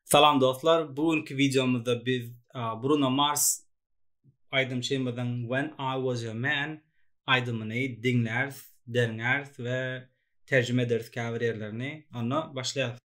Salam dostlar, bu günki videomyzda biz Bruno Mars aýdymçymyzyň When I Was Your Man aýdymyny diňläris, derňäris we terjime ederis käbir ýerlerini. Onda başlaýarys.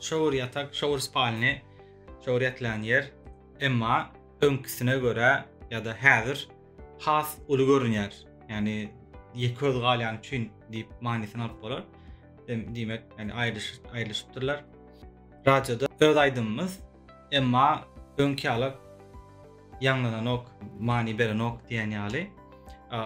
Şowur ýatak, şowur spalny, şowur ýatylan ýer, emma öňküsine görä ýa-da häzir has uly görünýär. Ýagny ýeköz galýany üçin diýip manysyny alyp bolar. Diýmek, ýagny aýrylyşyp, aýrylyşypdyrlar. Radioda öz aýdymymyz, emma öňki ýaly ýaňlananok, many berenok diýen ýaly.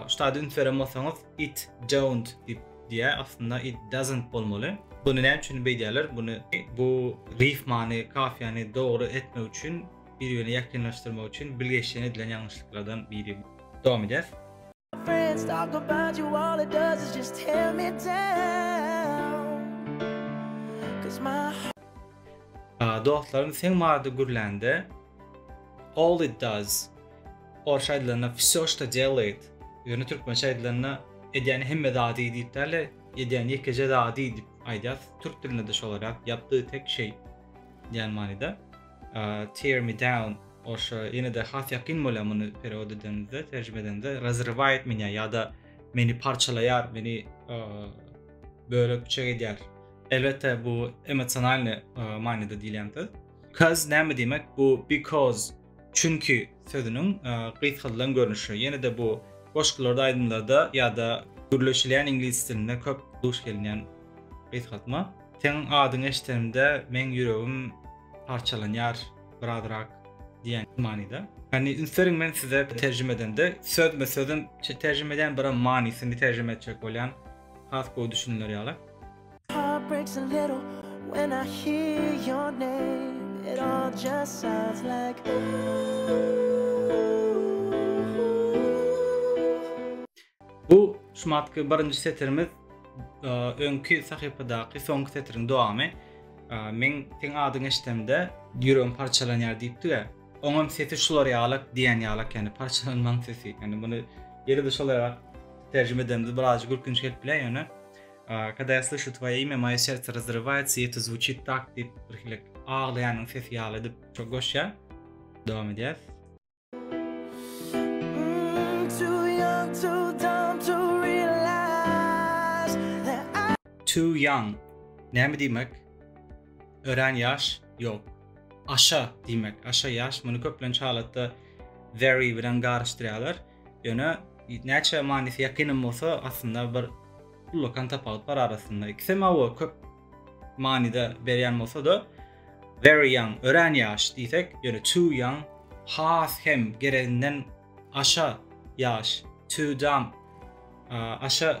Ştada üns beren bolsaňyz it don't diýip diýýär, aslynda it doesn't bolmaly. Bunu näme üçin beýdýärler? Bunu bu rifmany, kafiýany dogry etmek üçin, bir-birine ýakynlaşdyrmak üçin bilgeşleýin edilen ýalňyşlyklardan biri. Dowam edýäs. Dostlarym seň barada gürlände all it does orsça aýdylanda vsё çto delaýt ýöne türkmençe aýdylanda edýän hemme zady diýip däl-de edýän ýekeje zady diýip aýdýas türk dilinde-de şolar ýap ýapdy tek şeý diýen manyda. Tear me down, oşa ýene-de has ýakyn bolýar muny perewod edenimizde, terjime edenimizde, Razrywayt meni ýa-da Meni parçalaýar, meni bölek-büçek edýär. Elbetde bu emosionalny manyda diýilýän söz. Cause näme diýmek? Bu because, çünki sözüniň gysgaldylan görnüşi. Ýene-de bu goşgularda, aýdymlarda ýa-da gürleşilýän iňlis dilinde köp duş gelinýän gysgaltma. Seniň adyňy eşidenimde meň ýüregim parçalanýar birazrak diýen manyda. Ýagny üns beriň men size terjime edende sözme sözüm terjime edýän biram manysyny terjime etjek bolýan has gowy düşüniler ýaly. Heart breaks a little when I hear your name it all just sounds like ooh. Bu şumatky birinji setirimiz öňki sahypadaky soňky setiriň dowamy. Men seň adyňy eşdemde ýüregim parçalanýar diýipdi-ä. Oňam sesi şular ýalak diýen ýalak ýani parçalanmaň sesi. Ýani muny ýene-de şolaýrak terjime edemde birazajyk gülkünç gelip biler ýöne Kada ýa slyşu twoýe imýa moýe sertse razrywaýatsa ýa to zvuçit tak diýip birhili aglaýanyň sesi ýaly edip goşýar. Dowam edýäs. Too young näme diýmek? Örän ýaş, ýok. Aşa diýmek, aşa ýaş. Muny köplenç halatda very bilen garyşdyrýarlar. Ýöne näçe manysy ýakynam bolsa, aslynda bir ullakan tapawut bar arasynda. Ikisem awa köp manyda berýän bolsa-da, very young, örän ýaş diýsek, ýöne too young, has hem gereginden aşa ýaş, too dumb, aşa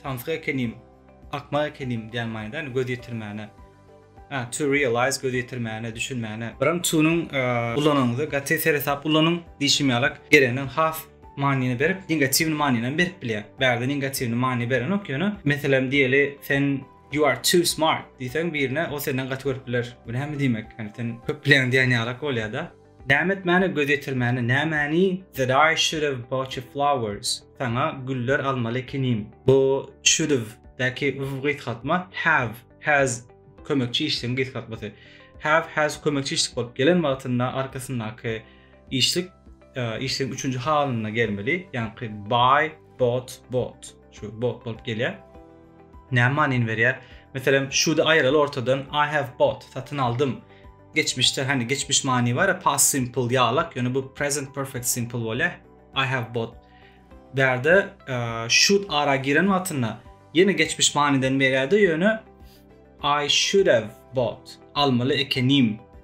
samsyk ekenim, akmak ekenim diýen manyda, ýöne göz ýetirmäne, to realize, göz ýetirmäne, düşünmäne. Biram too-nyň ulanyňyzda gaty seresap ulanyň, diýşim ýalak, gereginden has manyny berip, negatiwny manynam berip bilýär. Bärde negatiwny many berenok, ýöne, meselem, diýeli, sen You are too smart diýseň birine ol senden gaty görüp biler. Bu näme diýmek? Ýani sen köp bilýäň diýen ýalak bolýada. Näme etmäne göz ýetirmäne nämäni that I should have bought you flowers saňa güller almaly ekenim. Bu should have däki w gysgaltma have has kömekçi işligiň gysgaltmasy. Have has kömekçi işlik bolup gelen wagtynda arkasyndaky işlik işligiň üçünji halynda gelmeli. Ýani buy bought bought. Şu bought bolup gelýär. Näme manyny berýär? Meselem, şudy aýraly ortadan I have bought, satyn aldym. Geçmişde, hani geçmiş many bar, past simple ýalak, ýöne bu present perfect simple bolýar. I have bought. Bärde should ara giren wagtynda ýene geçmiş manydan berýärdi, ýöne I should have bought. Almaly ekenim.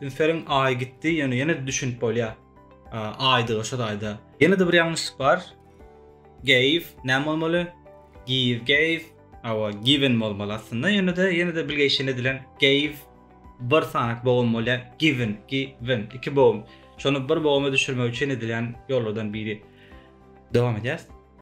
Ünseriň aýy gitdi, ýöne ýene-de düşünip bolýar. Aýdygy şo taýda. Ýene-de bir ýalňyşlyk bar. Gave, näme bolmaly? Give, gave. Hawa, given bolmaly aslynda. Ýöne-de, ýene-de bilgeşleýin edilen. Gave, bir sanyk bogum bolýar. Given, given, iki bogum. Şony bir boguma düşürmek üçin edilen ýollardan biri. Dowam edýäs.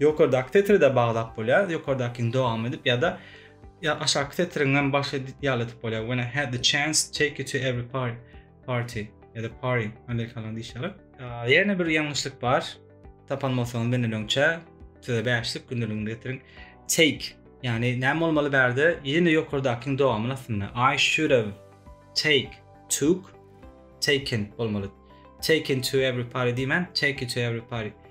Ýokardaky setiri-de baglap bolýar, ýokardakyny dowam edip ýa-da aşaky setiriň hem başy ýaly edip bolýar, When I had the chance, take you to every party, party ýa-da party, amerikanlar diýişýärler. Ýene bir ýalňyşlyk bar. Tapan bolsaňyz menden öňçä size bäşlik gündeligini getiriň. Take, ýagny näme bolmaly bärde? Ýene ýokardakyň dowamyny aslynda I should have take, took, taken bolmaly. Taken to every party diýmän, take you to every party.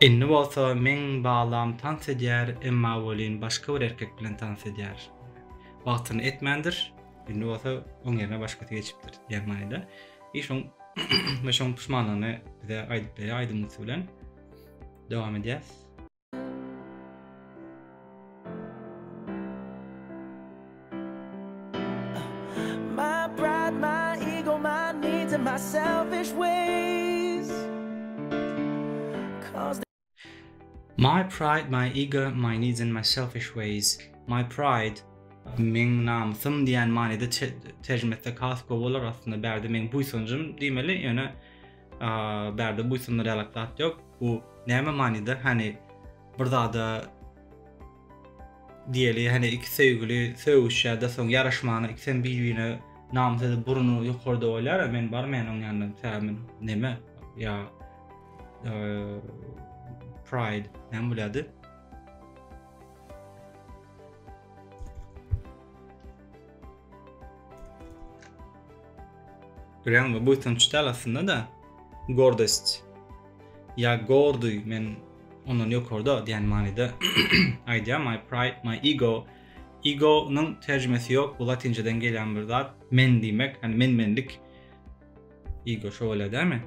Indi bolsa meň balam tans edýär, emma welin başga bir erkek bilen tans edýär. Wagtyny etmändir, indi bolsa oň ýerine başgasy geçipdir diýen manyda. I şoň we şoň puşmanlygyny bize aýdyp berýär aýdym üsti bilen. Dowam edýäs. My pride, my ego, my needs and my selfish ways My pride, meň namysym diýen manyda terjime etsek has gowy bolar, aslynda bärde meň buýsanjym diýmeli, ýöne bärde buýsandyr ýalak zat ýok. Bu näme manyda? Hani bir zada diýeli, hani iki söýgüli söýüşýärde soň ýaraşmana ikisem bir-birine namys edip burny ýokarda bolýar, men barmaýan oň ýanyna. Sebäbi näme? Ýa pride näme bolýardy? Durýan we buýsanç däl aslynda-da, gordost. Ýa gorduý, men ondan ýokarda diýen manyda aýdýar, my pride, my ego. Ego-nyň terjimesi ýok, bu latynçadan gelýän bir zat, men diýmek, ýani men-menlik. Ego şo bolýar dälmi?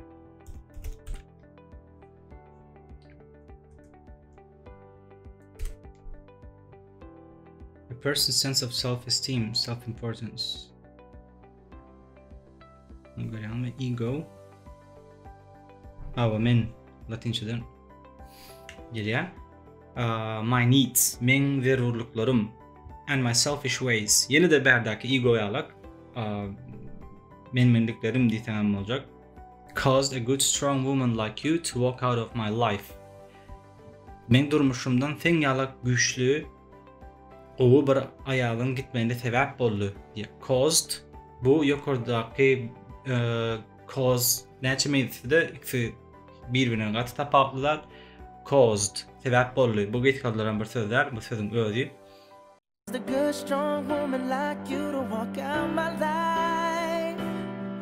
person's sense of self-esteem, self-importance. Bunu görýäňmi? Ego. Awa men latinçeden gelýär. My needs, men zerurlyklarym and my selfish ways. Ýene de bärdäki ego ýalak. Men mendiklerim diýseň hem boljak. Caused a good strong woman like you to walk out of my life. Men durmuşymdan sen ýalak güýçli Gowy bir aýalyň gitmegine sebäp boldy, diýip, caused. Bu ýokardaky cause näçe meňzese-de, ikisi bir-birinden gaty tapawutly zat. Caused, sebäp boldy. Bu geýik gazylaran bir söz däl, bu sözüň özi.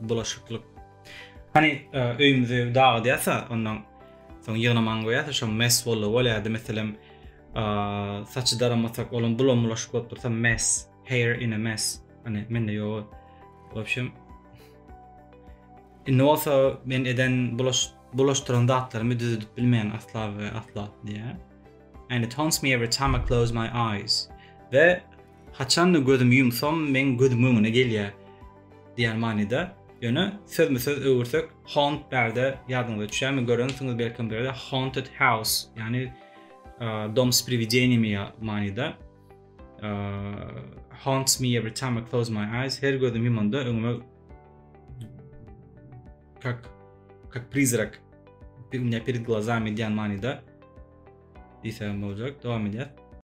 bulaşyklyk. Hany öýümizi dagydýasa, ondan soň ýygnamagyny goýýasa, şo mes boldy bolýardy. Meselem, saçy daramasak, olam bulam bulaşyk bolup dursa mes, hair in a mess. Hany mende ýok. Wobşem Indi bolsa men eden bulaş bulaşdyran zatlarymy düzedip bilmeýän asla we asla diýýär. And it haunts me every time I close my eyes. Ve Haçan-da gözümi ýumsam, meň gözümiň öňüne gelýä diýen manyda. Ýöne sözme-söz öwürsek, haunt bärde ýadyňyza düşýärmi, görensiňiz belkem bu ýerde haunted house, ýagny dom s priwideniýami manyda. Haunts me every time I close my eyes, her gözümi ýumanda öňüme kak kak prizrak bir günde perid glazami diýen manyda diýsem boljak. Dowam edýär.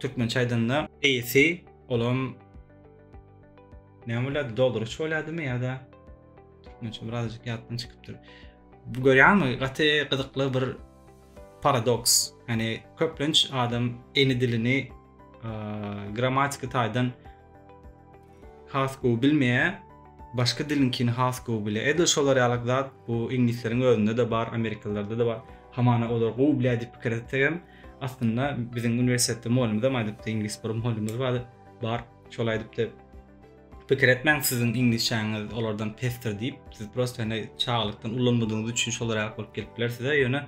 Türkmençe aýdanda AC olam näme bolýardy? Dolduryş bolýardymy ýa-da türkmençe birazajyk ýatdan çykypdyr. Bu görýärmi? Gaty gyzykly bir paradoks. Ýani köplenç adam ene dilini grammatika taýdan Has gowy bilmeýä başga diliňkini has gowy bilýä edil şolar ýalyk zat bu iňlisleriň özündede bar amerikalylardada bar hamana olar gowy bilýä diýip pikir etsegem aslynda biziň uniwersitetde mugallymyzam aýdypdy iňlis bir mugallymyz bar bar şol aýdypdy pikir etmäň siziň iňlisçäňiz olardan pesdir diýip siz prosto indi çagalykdan ulanmadygyňyz üçin şolar ýalyk bolup gelip biler size ýöne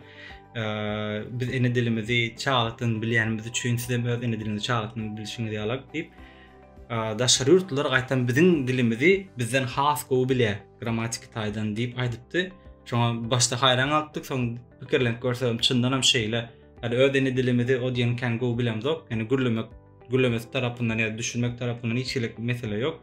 biz ene dilimizi çagtyn bilýänimiz üçin siz hem öz ene dilinizi çagtyn bilşiňiz ýalak diýip daşary ýurtlular gaýtam biziň dilimizi bizden has gowy bilýär grammatik taýdan diýip aýdypdy şoňa başda haýran galypdyk soň pikirlenip görsem çyndan hem şeýle ýa öz ene dilimizi o diýen kän gowy bilemzok ýani gürlemek gürlemesi tarapyndan ýa düşünmek tarapyndan hiç hili mesele ýok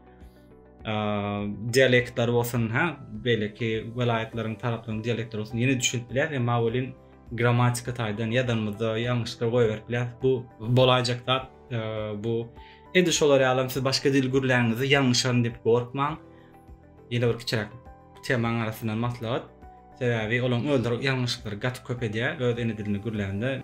dialektler bolsun, ha, beýleki welaýatlaryň, taraplaryň dialektleri bolsun, ýene düşünip bilýär, emma welin grammatika taýdan ýazanymyzda ýalňyşlar goýberip bilýär. Bu bolaýjak zat, bu edi şolar ýalam siz başga dil gürläňizde ýalňyşaryn diýip gorkmaň. Ýene bir kiçiräk temaň arasyndan maslahat. Sebäbi olaň özleri ýalňyşyklary gaty köp edýär öz ene dilinde gürlände.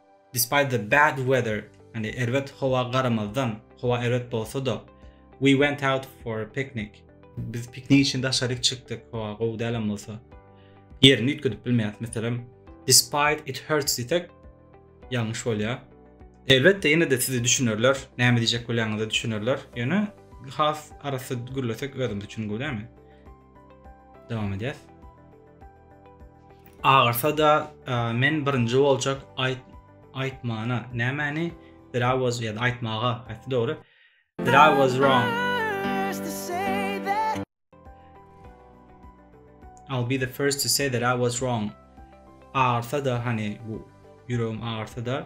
Despite the bad weather, ýagny erbet howa garamazdan, howa erbet bolsa-da, we went out for a picnic, biz piknik üçin daşaryk çykdyk, howa gowy däl hem bolsa, ýerini üýtgedip bilmeýäris. Meselem, despite it hurts diýsek, ýalňyş bolýar. Elbetde, ýene-de sizi düşünerler, näme diýjek bolýanyňyzy düşünerler, ýöne has arassa gürlesek özümiz üçin gowy dälmi? Dowam edýäs. Agyrsa da men birinji boljak ayt aytmana nämeni that I was ya aytmaga aytdy dogry that I was wrong I'll be the first to say that I was wrong. Ağırsa da hani bu yüreğim ağırsa da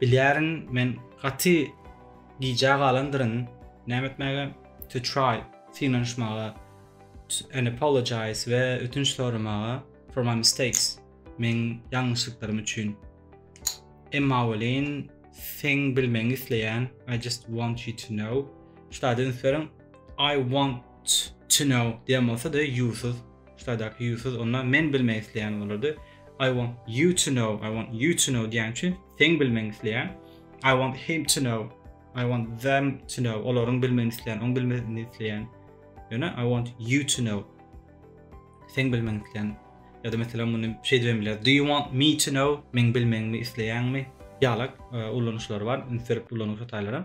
Bilýärin, men gaty gijä galandyryn, näme etmäge? To try, synanyşmaga, and apologise we ötünç soramaga, for my mistakes, meň ýalňyşlyklarym üçin. Emma welin, seň bilmegiňi isleýän, I just want you to know, şu taýda üns beriň, I want to know diýen bolsa-da, you-syz, şu taýdaky you-syz, onda men bilmek isleýän bolardy. I want you to know, I want you to know diýen üçin sen bilmegini isleýän. I want him to know, I want them to know, olaryň bilmegini isleýän, oň bilmegini isleýän. Ýöne I want you to know. Sen bilmegini isleýän. Ya da mesela muny şey diýip biler. Do you want me to know? Men bilmegimi isleýäňmi? Ýalak e, ulanyşlar bar. Ünsürip ulanyp hatalarym.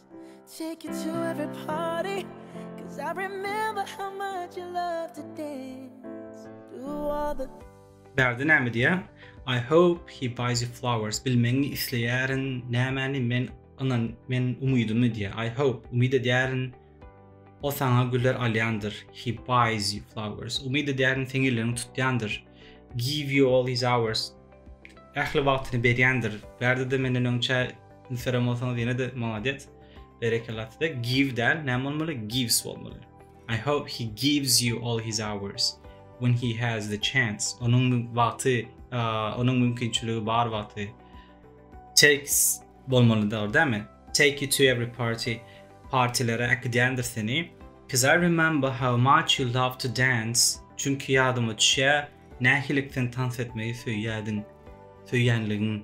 Take you to every party Cause I remember how much you love to dance Do all the Bärde näme diýä? I hope he buys you flowers. Bilmegiňi isleýärin. Nämäni men ynan men umydymy diýä. I hope umyt edýärin. O saňa güller alýandyr. He buys you flowers. Umyt edýärin seň elleriňi tutýandyr. Give you all his hours. Ähli wagtyny berýändir. Bärde de menden öňçä Instagram bolsaňyz ýene-de maladýet. Berekella size. Give däl, näme bolmaly? Gives bolmaly. I hope he gives you all his hours when he has the chance. Onuň wagty, onuň mümkinçiligi bar wagty. Takes bolmaly dogry dämi? Take you to every party. Partilere äkidýändir seni. Cuz I remember how much you love to dance. Çünki ýadyma düşýär, nähililik sen tans etmegi söýýärdiň. Söýýänligiň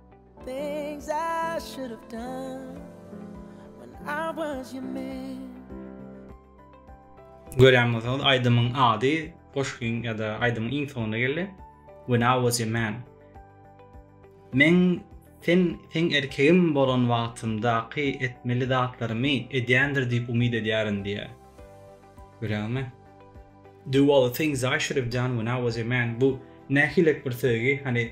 Things I should have done when I was your man. Görýän bolsaňyz aýdymyň ady goşgyň ýa-da aýdymyň iň soňunda geldi. When I was your man. Men sen seň erkegim bolan wagtymdaky etmeli zatlarymy edýändir diýip umyt edýärin diýýär. Görýäňmi? Do all the things I should have done when I was your man. Bu nähilek bir söýgi, hani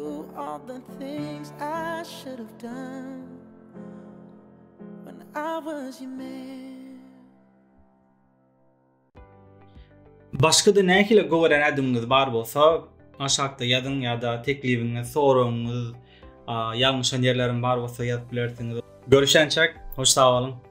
Do all the things I should have done When I was your man Başga-da nähili göweren ädimiňiz bar bolsa, aşakda ýazyň ýa-da teklibiňiz, soragyňyz, ýalňyşan ýerlerim bar bolsa ýazyp bilersiňiz. Görüşençek, hoş sag boluň.